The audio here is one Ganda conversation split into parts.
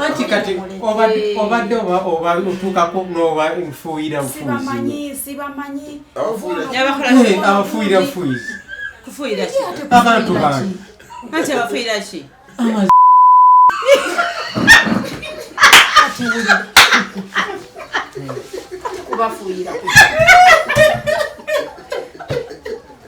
anti kati obadde oba otuukako noba nfuuyira bufuuyiabafuuyira bufuuyizi abantu bange anti abafuuyira ki kubafuuyira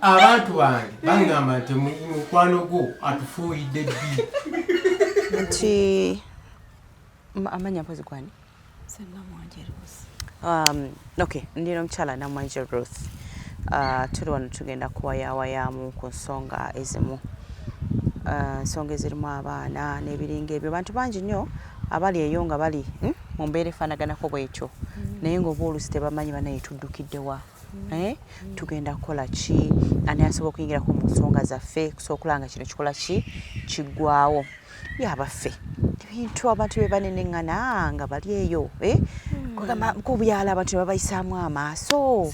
abantu bange bangamba nti mukwano gwo atufuuyidde ddi nti amanya mpozi kwani um, ok ndina omukyala namwanje ruth uh, tuli wano tugenda kuwayawayamu ku nsonga ezimu uh, nsonga ezirimu abaana n'ebiringa ebyo bantu bangi nnyo abali eyo nga bali hmm, mu mbeera efaanaganako bwetyo mm. naye ngaoba olusi tebamanyi banaye tuddukiddewa Eh, tugenda kukola ki ani asobola okuyingirako mu nsonga zaffe kusobola okulaba nga kino kikola ki kiggwawo ye abaffe ebintu abantu be baneneŋŋana nga bali eyo eh? hmm. ku byalo abantu ne babayisaamu amaaso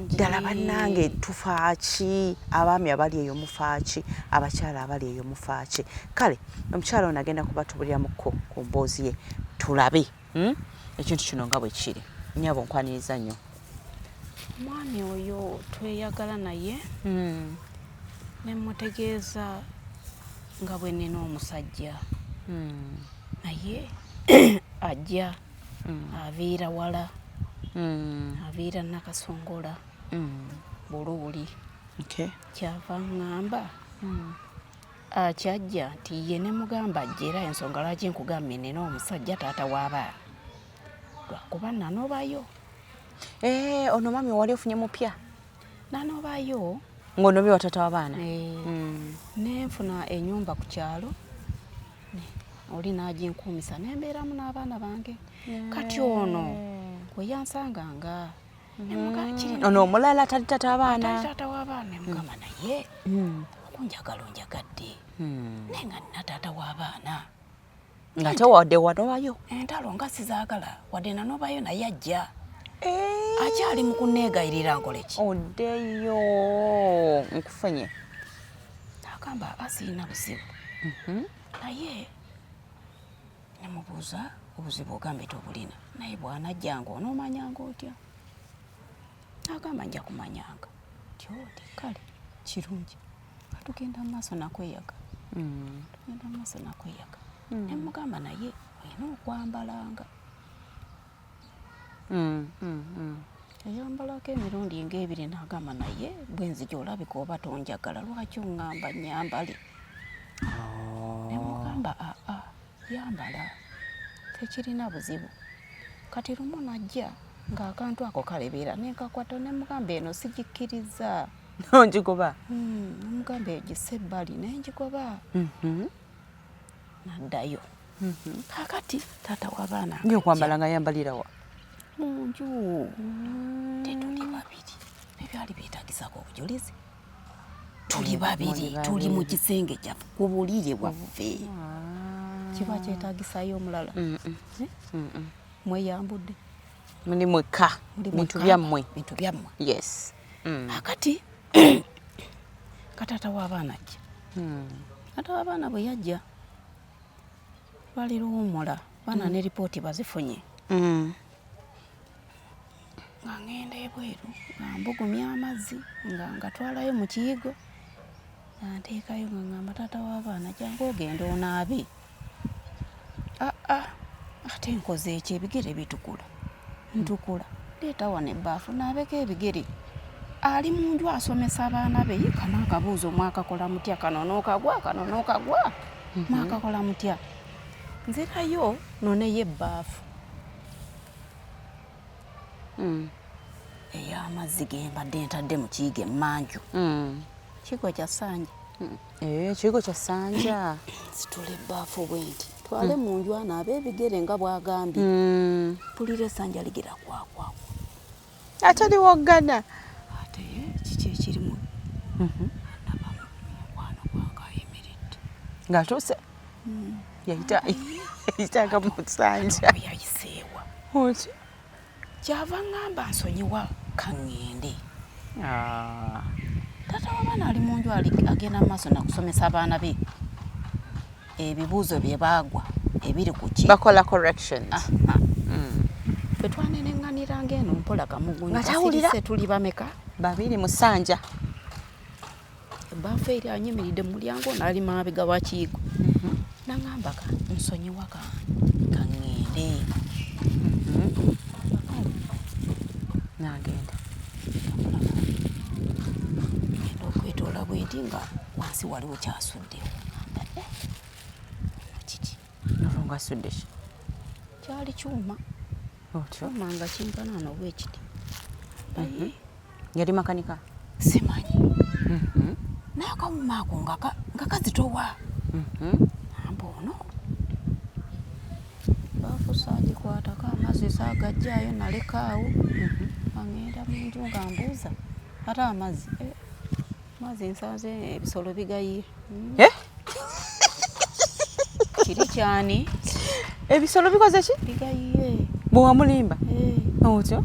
ddala bannange tufaaki abaami abali eyo mufaaki abakyala abali eyo mufaaki kale omukyala ono agenda kuba tubuliramuko ku mboozi ye tulabe hmm? ekintu kino nga bwe kiri nyabo nkwaniriza nnyo omwami oyo tweyagala naye hmm. nemutegeeza nga bwe nina omusajja hmm. naye ajja aviira wala aviira nakasongola buluuli kyava ngamba Ah, kyajja nti ye ne mugamba ajja era ensonga lwaki nkugambye nina omusajja taata w'abaana lwakuba nanobayo eh, ono mami owali ofunye mupya nanobayo ng'onobye wa taata w'abaana eh, hmm. nenfuna enyumba ku kyalo oli n'aginkuumisa nembeeramu n'abaana bange kati ono kweyansanga nga ono omulala tali tata abaana tata w'abaana mugamba naye okunjagala onjagadde naye nga nina taata w'abaana nga tewade wanobayo entalo nga sizagala wadde nanobayo naye ajja eh. akyali mu kuneegayirira nkoleki oddeyo nkufunye agamba asiina buzibu mhm. naye nemubuuza obuzibu ogambye tobulina naye bwanajjanga onoomanyanga otya agamba nja kumanyanga nti oti kale kirungi atugenda mu maaso nakweyaga hmm. tugenda mu maaso nakweyaga hmm. nemugamba naye olina okwambalanga Mm, mm, mm. eyambalako emirundi nga ebiri nagamba naye bwenzija olabika oba tonjagala lwaki ongamba nyambale oh. nemugamba aa ah, ah, yambala tekirina buzibu kati lumu najja ng'akantu ako kalebeera nenkakwata nemugamba eno sigikkiriza nongigoba hmm, nemugamba egise ebbali nengigoba mm-hmm. naddayo Mhm. kakati taata wabaana ngekwambala nga yambalirawa munju mm. tetuli babiri ebyali byetagisako obujulizi tuli mm, babiri tuli mu kisenge kyaffe ku bulire bwaffe ah. kiba kyetagisayo omulala eh? mweyambudde muli mwekka bintu byammwe bintu byammwe yes mm. akati kataata w'abaana ajja hmm. kataata w'abaana bwe yajja bali luwumula baana mm. ne lipooti bazifunye mm. nga ngenda ebweru nga mbugumya amazzi nga ngatwalayo mu kiyigo nga nteekayo nga ngamba taata w'abaana jangu ogenda onaabe aa ah, ah, ate nkoze ekyo ebigere bitukula ntukula leeta wano ebbaafu naabeko ebigere ali mu nju asomesa abaana be yika naakabuuza omwakakola mutya kano nookagwa kano nookagwa mhm. mwakakola mutya nzirayo noneyo ebbaafu mm. ey'amazzi ge mbadde ntadde mu kiyiga emmanju mm. kigo kya sanja mm. Eh, ekigo kya sanja situla ebbaafu bwenti twale mu nju ana ab'ebigere nga bwagambye hmm. pulira esanja ligera kwakwako ate liwoggana ate kiki ekirimu mhm. ng'atuuse hmm. yayita yayitanga mu sanja yayiseewa oki kyava ŋŋamba nsonyiwa ka ŋŋende ah. taata w'abaana ali mu nju agenda mu maaso nakusomesa abaana be ebibuuzo bye baagwa ebiri ku ki bakola correction ah, ah. mm. fe twaneneŋŋanira ng'eno mpola kamugunyu tuli bameka babiri musanja Ebbaafu eri anyimiridde mu mulyango ono ali maabega wa kiyigo mhm. nangamba ka nsonyiwa ka kaŋŋende mhm. nagenda genda okwetoola bwenti nga wansi waliwo kyasuddewo kiki nolwo ngasudde ki kyali kyuma otyo manga kinkana no bwekiti mhm. yali makanika simanyi mhm. naye akawuma ako nga kazitowa mhm. amba ono bafusa agikwatako amazzi sagajjayo nalekaawo agenda munju nga mbuuza ate amazzi eh. Mazi nsanze ebisolo bigayi. Hmm? Eh? Kiri kyani? Ebisolo bikoze ki? Bigayiye. Bwa mulimba. Eh. Otyo.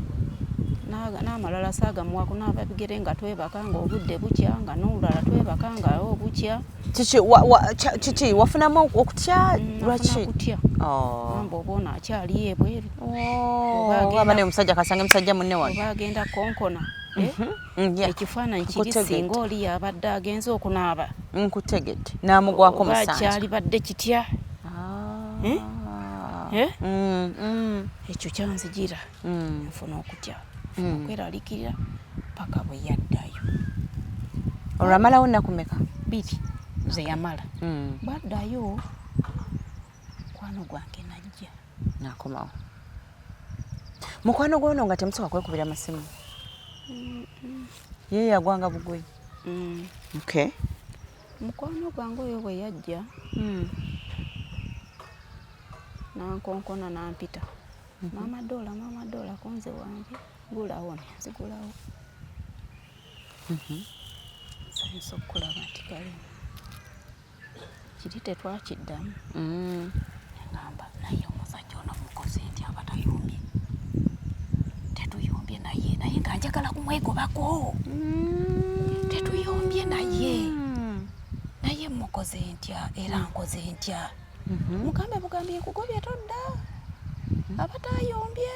n'amalala saagamuwako naava bigere nga twebaka nga obudde bukya nga n'olulala twebaka nga obukya kiki wafunamu okutya mm, lwaki kutya oh. amba oba ono akyali ebweru oh, aba ne musajja kasanga musajja munne wano oba agenda konkona eh? mhm. ekifaananyi kiri singa oli yabadde agenze okunaaba nkutegedde namugwako musankyalibadde kitya ah. eh? Eh? Mm, mm. ekyo kyanzijira mm. nfuna okutya nfuna okweralikirira paka bwe yaddayo olwamalawo nakumeka biri zeyamala bwaddayo mukwano gwange najja nakomawo mukwano gwono nga temusoka kwekubira masimu ye yagwanga bugwe mm. okay mukwano gwange oyo bwe yajja mm. nankonkona nampita mm-hmm. maama dola maama dola konze wange gulawo nzigulawo mm-hmm. sayinza okukulaba nti kalimu kiri tetwakiddamu mm. ngamba naye omusajja ono mukoze nti aba tayumbye tetuyumbye naye naye nga njagala kumwegobako mm. tetuyumbye naye mm. naye mukoze ntya era nkoze ntya mm-hmm. mugambe bugambi nkugobye todda mm-hmm. aba tayombye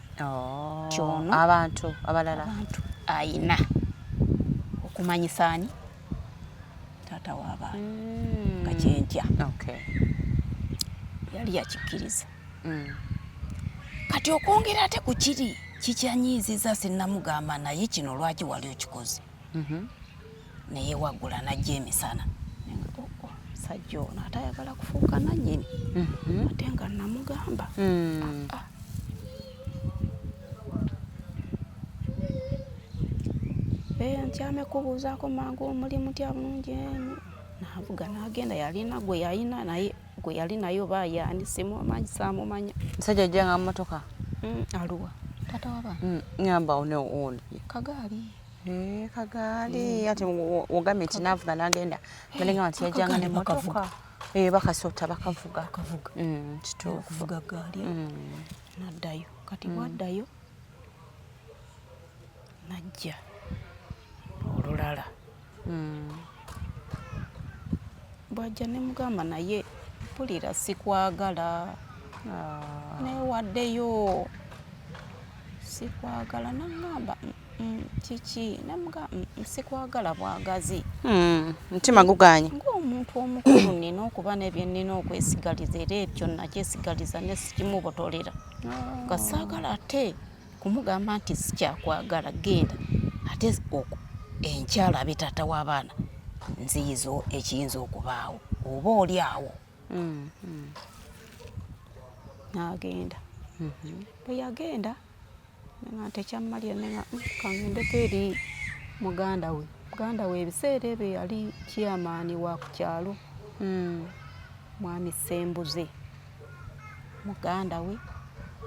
oh, kyono abantu abalala abantu ayina okumanyisa ani taata w'abaana mm. nga kyentya okay. yali yakikkiriza mm. kati okwongera ate ku kiri kikyanyiiziza sinnamugamba naye kino lwaki wali okikoze mhm. naye wagula najja emisana sajja ono ate ayagala kufuuka nanyini mhm. ate nga namugamba hmm. ah, ah. eh, ntyame kubuuzaako mangu omuli mutya bulungi eh, navuga nagenda yalina gwe yalina naye gwe yali naye oba yaani simumanyi samumanya musajja ajjanga mumotoka hmm, aluwa tata waba hmm, ngamba one one kagaali Eh, kagaali ati ogambye nti navuga nagenda balinga nti yajanga ne motoka eh, bakasota bakavuga mm, kituukuvuga gaali mm. naddayo kati mm. waddayo najja olulala hmm. bwajja ne mugamba naye mpulira sikwagala ah. newaddeyo sikwagala nangamba mm, mm, kiki namuga mm, sikwagala bwagazi hmm, mutima guganye ngaomuntu omukulu nina okuba nebye nina okwesigaliza era ebyo nakyesigaliza nesikimubotolera nga ah. saagala ate kumugamba nti sikyakwagala genda ate enkyala abe taata w'abaana nziyiza ekiyinza okubaawo oba oli awo mm, mm. n'agenda mm-hmm. bwe yagenda nga ntekyammalira ne nga mm, kangendeko eri muganda we muganda we ebiseera ebyo yali kiyamaani wa ku kyalo mm. mwami sembuze muganda we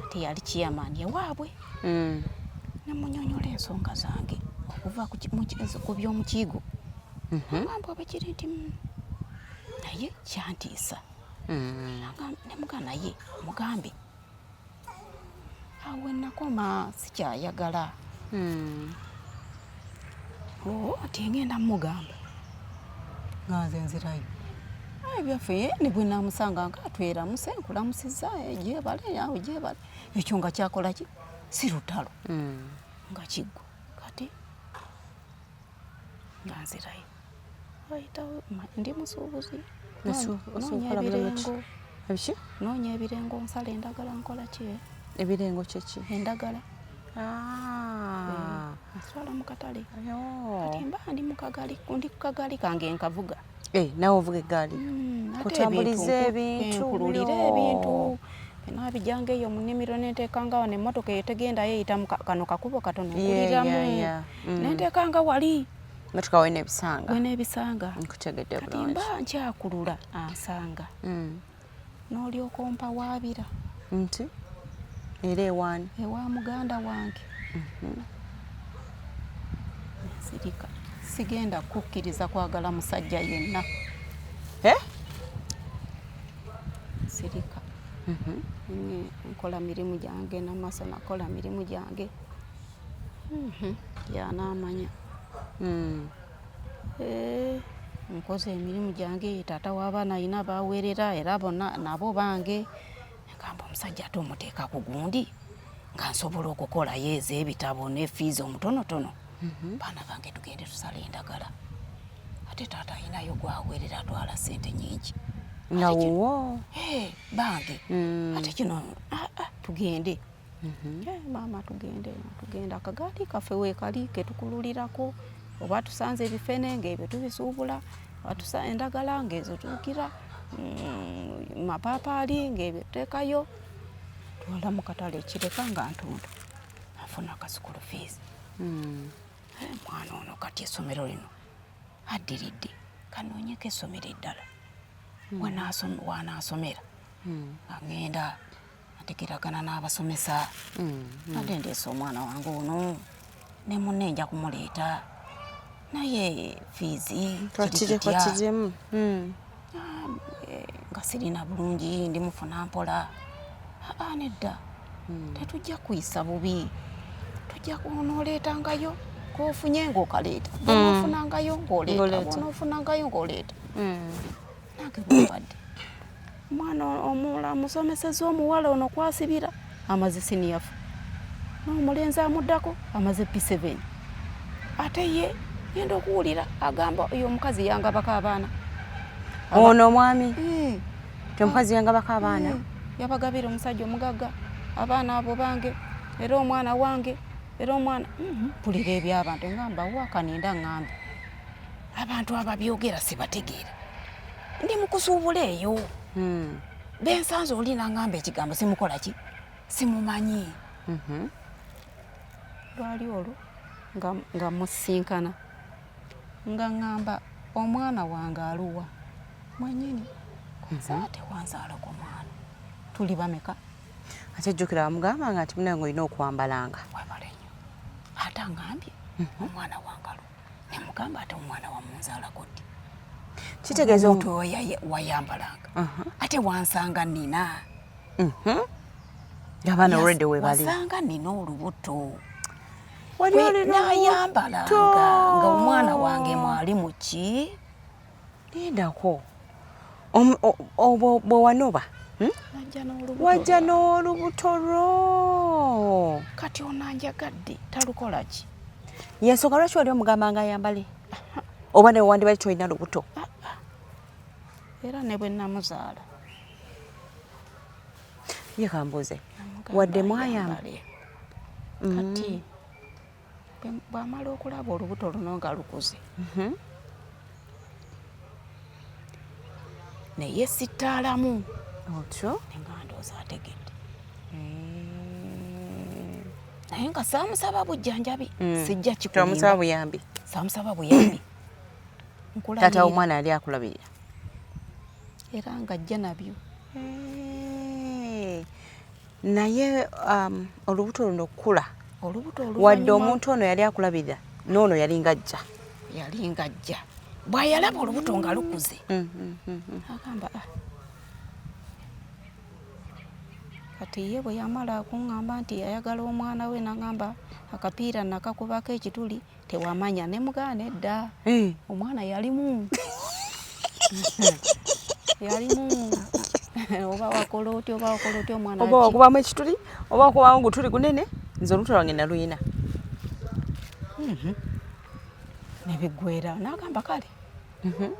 ate yali chairman ewaabwe mm. nemunyonyola ensonga zange okuva ku by'omukiigo mm-hmm. agamba oba kiri nti mm, naye kyantiisa mm. nemugamba naye mugambe awo nakoma sikyayagala hmm. oh, ti ngenda mugamba nga nze nzirayo ebyaffe ne bwe namusanga nga tweramuse nkulamusiza gyebale awo gyebale ekyo nga kyakola ki si lutalo hmm. nga kiggwa kati nga nzirayo wayitawo ndi musuubuzi noonya ebirengo ebiki noonya ebirengo nsala endagala nkola ki eh? ebirengo kyeki endagala ah. eh, nswala mu katale kati mba ndi mu kagali ndi ku kagali kange nkavuga Eh, nawe ovuga eggaali mm, kutambuliza ebintu nkululira ebintu nabijanga eyo mu nnimiro nenteekangawo nemmotoka eyo tegendayo eyita mu kano kakubo katono nkuliramu mm. nenteekanga wali motoka wena ebisanga wena ebisanga nkutegedde bulungi kati mba nkyakulula ansanga mm. n'olyoka ompawaabira nti era ewaani ewa muganda wange mhm. nsirika sigenda kukkiriza kwagala musajja yenna eh? nsirika mhm. nkola mirimu gyange namaaso nakola mirimu gyange mhm. yanaamanya hmm. Eh, nkoze emirimu gyange taata w'abaana alina baaweerera era bona nabo bange gamba omusajja ate omuteeka ku gundi nga nsobola okukolayo ez'ebitabo ne fiizi omutonotono mhm. baana bange tugende tusala endagala ate taata alinayo gwaweerera atwala sente nyingi nawowo eh, bange mm. ate kino ah, ah, tugende Mhm. Eh, maama tugende tugenda akagaali kaffe weekali ketukululirako oba tusanze ebifene ngaebyo tubisuubula atusa endagala ngaezo tuukira mm, mapaapaali ngaebyo tuteekayo twala mu katale ekireka nga ntunda afuna akasukulu fees mm. eh, mwana ono kati esomero lino addiridde kanoonyeko esomero eddala mm. wanaasomera agenda ategeragana n'abasomesa mm-hmm. ate ndeese omwana wange ono ne munne nja kumuleeta naye fiizi twakiremu mm. ah, eh, nga sirina bulungi ndi mufuna mpola aa ah, ah, nedda mm. tetujja kuyisa bubi tujja kunoleetangayo kofunye ng'okaleeta mm. onofunangayo ng'oleeta onofunangayo ng'oleeta omwana omula musomeseza omuwala ono kwasibira amaze siniyafu n'omulenzi amuddako amaze p7 ate ye yenda okuwulira agamba oyo omukazi yangabako abaana ono omwami eh. ti omukazi yangabako abaana eh. yabagabira omusajja omugagga abaana abo bange era omwana wange era omwana mhm. mpulira ebyabantu ngamba wakaninda ngambe abantu ababyogera sibategeera ndi mukusuubula eyo hmm. bensanze oli nangamba ekigambo simukola ki simumanyi mhm. lwali olwo nga musinkana nga ngamba omwana wange aluwa mwenyini nzate mhm. wanzalako mwana tuli bameka ate jjukira wamugambanga nti munange olina okwambalanga ate angambye mhm. omwana wange aluwa nemugamba ate omwana wamunzalako ddi kitegeeza omuntu wayambalanga ate wansanga nina mhm. abaana olwedde webali wasanga nina olubuto nayambalanga nga omwana wange mwali muki Lindako. Obwo bwe wanoba hmm? wajja n'olubuto lwo. Kati ono anjagadde talukola ki? Yensonga lwaki wali omugamba nga ayambale oba ne wandibali tolina lubuto. Ah, ah. Era ne bwe namuzaala. Ye kambuuze wadde mwayambale kati mm. bwamala okulaba olubuto luno nga lukuze mhm. naye sittaalamu otyo nga ndooza ategedde eh. naye nga saamusaba bujjanjabi mm. sijja kikumusaba buyambi saamusaba buyambi taata omwana yali akulabirira era nga ajja nabyo eh. naye um, olubuto luno okukula wadde omuntu ono yali akulabirira noono yali ngajja yali ngajja bwayalaba olubuto nga lukuze mm, mm, mm, agamba ah. kati ye bwe yamala kuŋŋamba nti ayagala omwana we nagamba akapiira nakakubako ekituli tewamanya ne mugana edda eh. omwana yalimu yalimu oba wakola otya oba wakola otya omwana oba wakubamu ekituli oba wakubamu gutuli gunene nze olutu lwange naluyina mhm. nebiggwera nagamba kale mhm.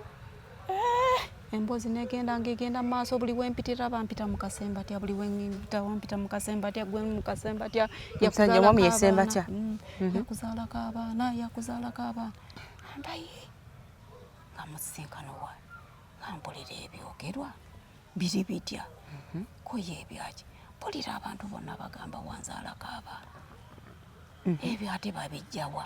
eh, emboozi negenda ngegenda maaso buli wempitira bampita mukasemba atya buli wempita wampita mukasemba atya gwe mukasemba atya yakuzaala mm. mhm. kabaana yakuzaala kabaana ambaye nga musisinkano wa ngampulira ebyogerwa biri bitya mhm. koye ebyaki mpulira abantu bonna bagamba wanzaala kabaana mhm. ebyo ate babijjawa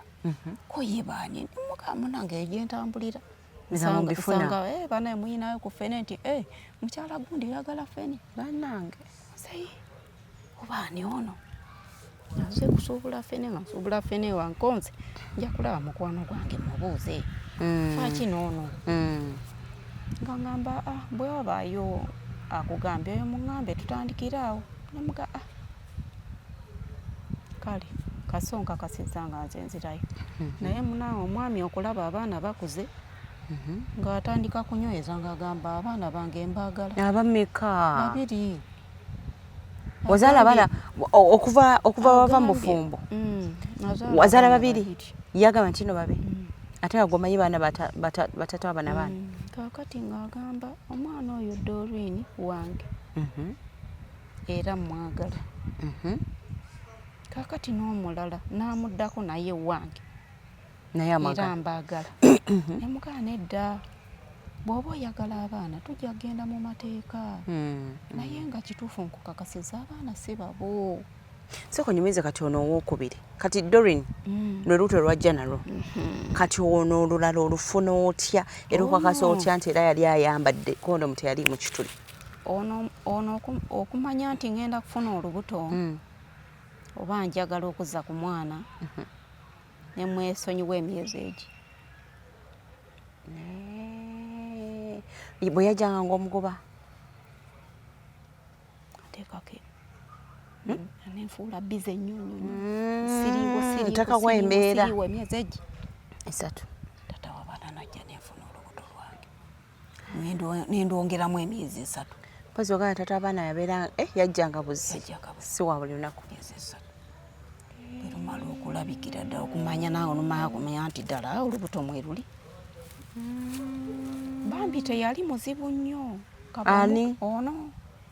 koye baani mukamunange egyentambulira mm -hmm. nze mumbifuna eh bana muyina yo kufene nti eh mukyala gundi yagala fene banange sayi oba ni ono naze kusuubula fene nga nsuubula fene wa nkonze nja kulaba mukwano gwange mubuuze mm. faki noono mm. nga ngamba ah, bwe wabaayo akugambye oyo muŋambe tutandikire awo namuga ah, kale kasonka kasiza nga nze nzirayo mhm. naye munange omwami okulaba abaana bakuze mhm. ng'atandika kunyweza ng'agamba abaana bange mbaagala abameka babiri wazaala abaana okuva okuva wava mu bufumbo mm, wazaala babiri yagamba ntino babe mm. ate nga gwomanyi baana batatu abana baana mm. kakati ng'agamba omwana oyo dorwin wange mhm. era mmwagala. Kaakati n'omulala n'amuddako naye wange era mbaagala. Ne mugamba nedda, bw'oba oyagala abaana tujja kugenda mu mateeka, naye nga kituufu nkukakasiza abaana si babo. Sooka onyumize kati ono owookubiri, kati Doreen mm. lwe luuto lwajja nalwo mm-hmm. kati ono olulala olufuna otya era okakasa oh. otya nti era yali ayambadde kondomu teyali mu kituli. ono ono okumanya nti ngenda kufuna olubuto mm. oba njagala okuzza ku mwana mm -hmm. ne mwesonyiwa emyezi egyo bwe yajjanga ng'omugoba ateekako hmm? nenfuula bize nnyo nnyonyotekawo hmm, embeera emyezi egi esatu tata wabana najja nenfuna olubuto lwange nendwongeramu emyezi esatu mpozi ogana tata abaana yabeera eh, yajjanga buzi si wa buli lunaku erumala okulabikira ddala okumanya nawe olumala kumanya nti ddala olubuto mweruli mm. bambi teyali muzibu nnyo ani ono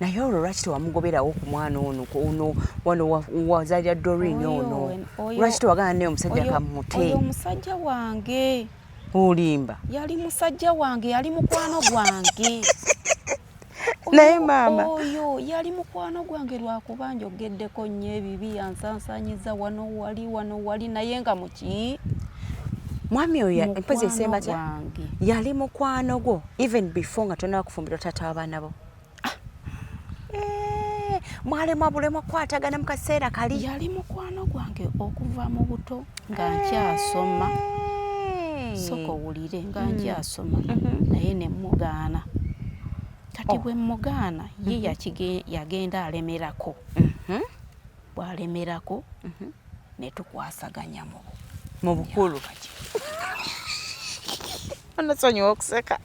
naye olwo lwaki tewamugoberawo ku mwana ono ono wano wazalira dorin ono lwaki tewagana naye omusajja kamute oyo omusajja wange olimba yali musajja wange yali mukwano gwange naye maama oyo yali mukwano gwange lwakuba njogeddeko nnyo ebibi yansansanyiza wano wali wano wali naye nga muki mwami oyo empozi esembatya yali mukwano gwo even before nga tonaba kufumbirwa taata wabaana bo ah. eh, mwalemwa bulemwa kukwatagana mu kaseera kali yali mukwano gwange okuva mu buto nga eh. nkyasoma soka owulire nga mm. nkyasoma mm-hmm. naye nemugaana kati oh. bwe mugaana ye mm-hmm. yagenda alemerako mm-hmm. bwalemerako netukwasaganya mu bukulu kati Anasonyiwa okuseka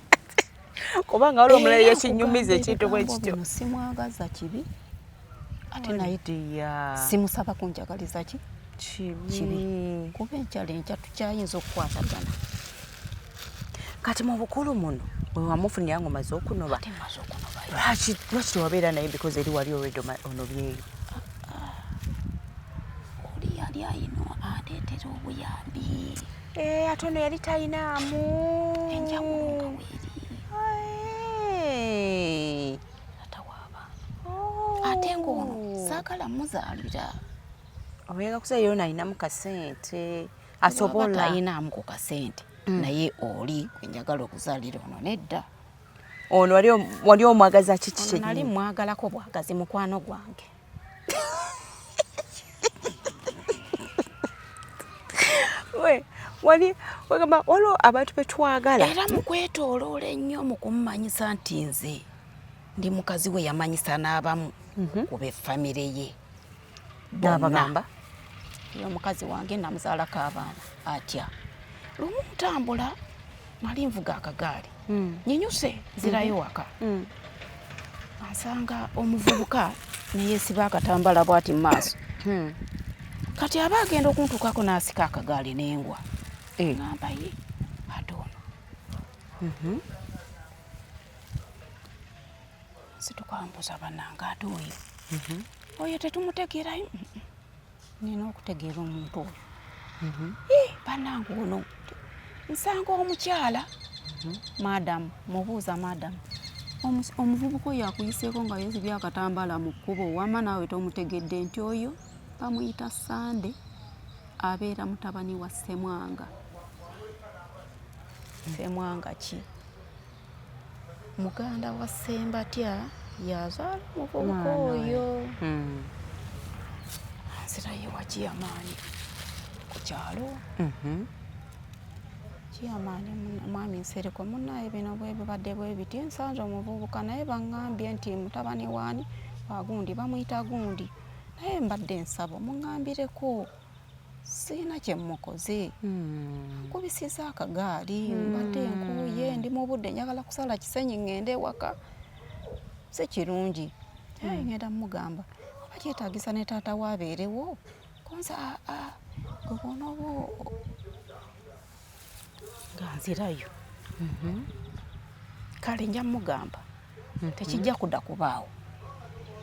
kubanga waliwo omulala yakinyumiza ekintu bwe kityo. Simwagaza kibi ate naye simusaba kunjagaliza ki kibi kuba enkyalo enkya tukyayinza okukwatagana kati mu bukulu muno wewamufunira nga omaze okunoba lwaki tewabeera naye because eri wali olwedde onobyeyo Eh, ate ono yali talinaamu enjawulo ate ng'ono oh. saagala muzaalira oyenga kusa yona alinamu kasente asobola talinaamu ku kasente mm. naye oli gwenjagala okuzaalira ono nedda ono wali omwagaza kiki kyenali mwagalako bwagazi mukwano gwange wali wagamba waliwo abantu betwagala era mukwetoloola ennyo mu kumumanyisa nti nze ndi mukazi we yamanyisa n'abamu mhm. ku befamire ye nabagamba omukazi wange namuzaalako abaana atya lumu ntambula nali nvuga akagaali mm. nyinyuse zirayo mm-hmm. waka mm. asanga omuvubuka neyesiba akatambala bwati mumaaso mm. kati aba agenda okuntukako nasika akagaali nengwa eh. ngamba ye ate ono mm-hmm. situkambuza banange ate oyo mm-hmm. oyo tetumutegerayo nina okutegeera omuntu oyo mhm. eh, banange ono nsanga omukyala mhm. madamu mubuuza madamu omuvubuka oyo akuyiseeko nga yezibye akatambala mu kkubo wama naawe tomutegedde nti oyo bamuyita sande abeera mutabani wa semwanga semwanga ki muganda wa Ssembatya yazaala omuvubuka oyo hmm. nzira ye wa Kiyamaani ku kyalo mhm. Kiyamaani mwami Nsereko munnaye bino bwe bibadde bwe biti nsanze omuvubuka naye bangambye nti mutabani waani wagundi bamuyita gundi naye mbadde nsaba omungambireko sirina kye mmukoze hmm. nkubisiza akagaali hmm. mbadde nkuuye ndi mu budde njagala kusala kisenyi ŋŋende ewaka si kirungi hmm. eh, ŋenda mugamba oba kyetagisa ne taata we abeerewo kunze aa ah, ah, gwe bwonaoba nga nzirayo mhm. kale nja mugamba mhm. tekijja kuda kubaawo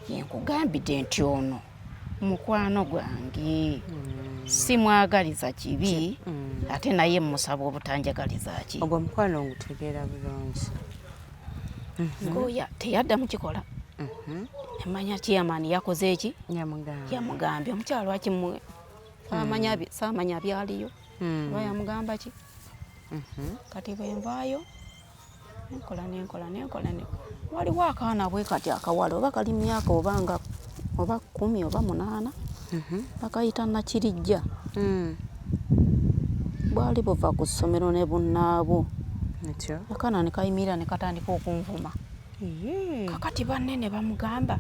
yenkugambidde nti ono mukwano gwange mm. simwagaliza kibi mm. ate naye musaba obutanjagaliza ki ogwo mukwano ngutegeera bulungi mhm. ngoya teyaddamu kikola emanya chairman yakoze eki yamugambye omukyalo akimwe samanya byaliyo hmm. oba yamugamba ki mhm. kati bwenvaayo nenkola nenkola nenkola waliwo akaana bwe kati akawala oba kali myaka oba nga oba kumi oba munaana mhm. bakayita nakirijja hmm. bwali buva ku ssomero ne bunnaabwo akaana ne kayimirira ne katandika okunvuma kakati banne ne bamugamba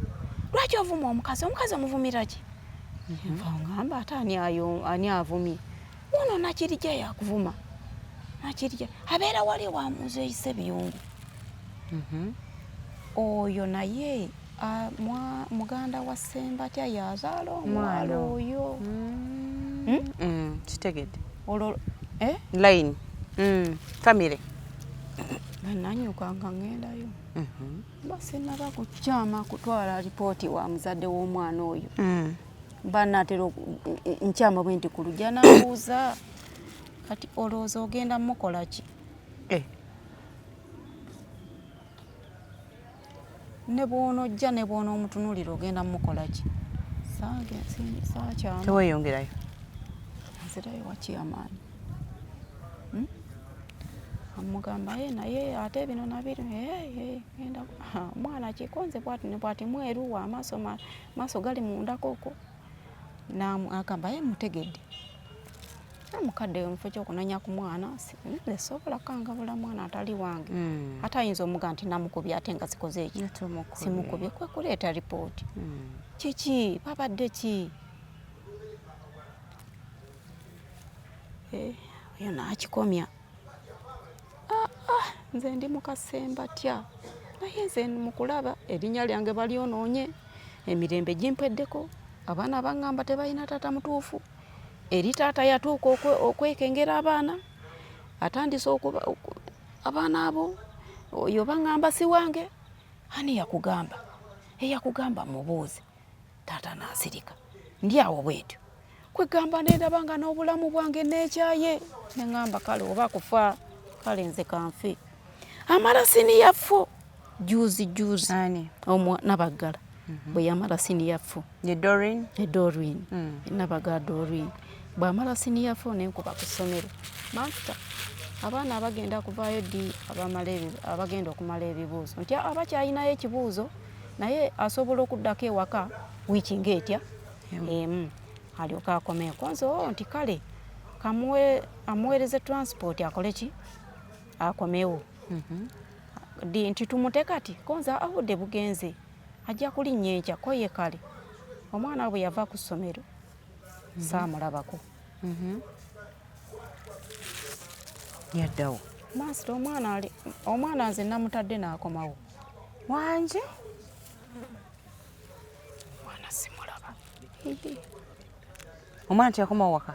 lwaki ovuma omukazi omukazi omuvumiraki nva ngamba ate ani ayo ani avumye ono nakirija yakuvuma nakirija abeera wali wamuuza eyise biyungu mhm. oyo naye muganda wa sembatya yazaala omwana oyo mm. hmm? mm, kitegede olwo eh? line mm, famire nanyuka nga ngendayo mhm. basinaba ku kyama kutwala lipooti wa muzadde w'omwana oyo mm. banatera nkyama bwe nti kulujja nabuuza kati olowooza ogenda mukola ki eh. ne bwonojja ne bwona omutunulira ogenda mukola ki sakyama teweyongerayo nzirayo wakyamaani hmm? amugamba ye eh, naye ate bino nabiri eh, genda omwana kikonze bwati nebwati mweruwa amaaso maaso gali mundakoko agamba ye mutegedde mukadde mufo kyokunanya ku mwana esobola kukangabula mwana atali wange hmm. ate ayinza omuga nti namukubye ate nga zikoze ekyo simukubye kwekuleeta ripooti hmm. kiki babadde ki Eh, oyo n'akikomya ah, ah, nze ndi mukasemba tya naye nze mukulaba erinnya lyange balyonoonye emirembe gimpweddeko abaana baŋŋamba tebalina taata mutuufu eri taata yatuuka okwekengera abaana atandise okuba abaana abo oyo baŋŋamba si wange ani yakugamba eyakugamba mubuuze taata n'asirika ndi awo bwetyo kwegamba nendaba nga n'obulamu bwange nekyaye neŋamba kale oba kufa kale nze kanfe amala siniyaffu juzi juzi nabaggala mhm. bweyamala siniyaffu edorin edorin mm. nabaga dorin bwamala siniyaffu nenkuba ku ssomero mafuta abaana abagenda kuvaayo ddi abagenda okumala ebibuuzo nti abakyalinayo ekibuuzo naye asobola okuddako ewaka wiiki ngaetya emu alyoke akomeeko nze oo oh, nti kale kamuwe amuweereze transport akole ki akomewo mhm. nti tumute kati konza awudde bugenze ajja kulinnya enkya ko ye kale omwana we bwe yava ku ssomero mhm. saamulabako mhm. yaddawo maasita omwana ali omwana nze namutadde n'akomawo wanje omwana simulaba omwana teyakoma waka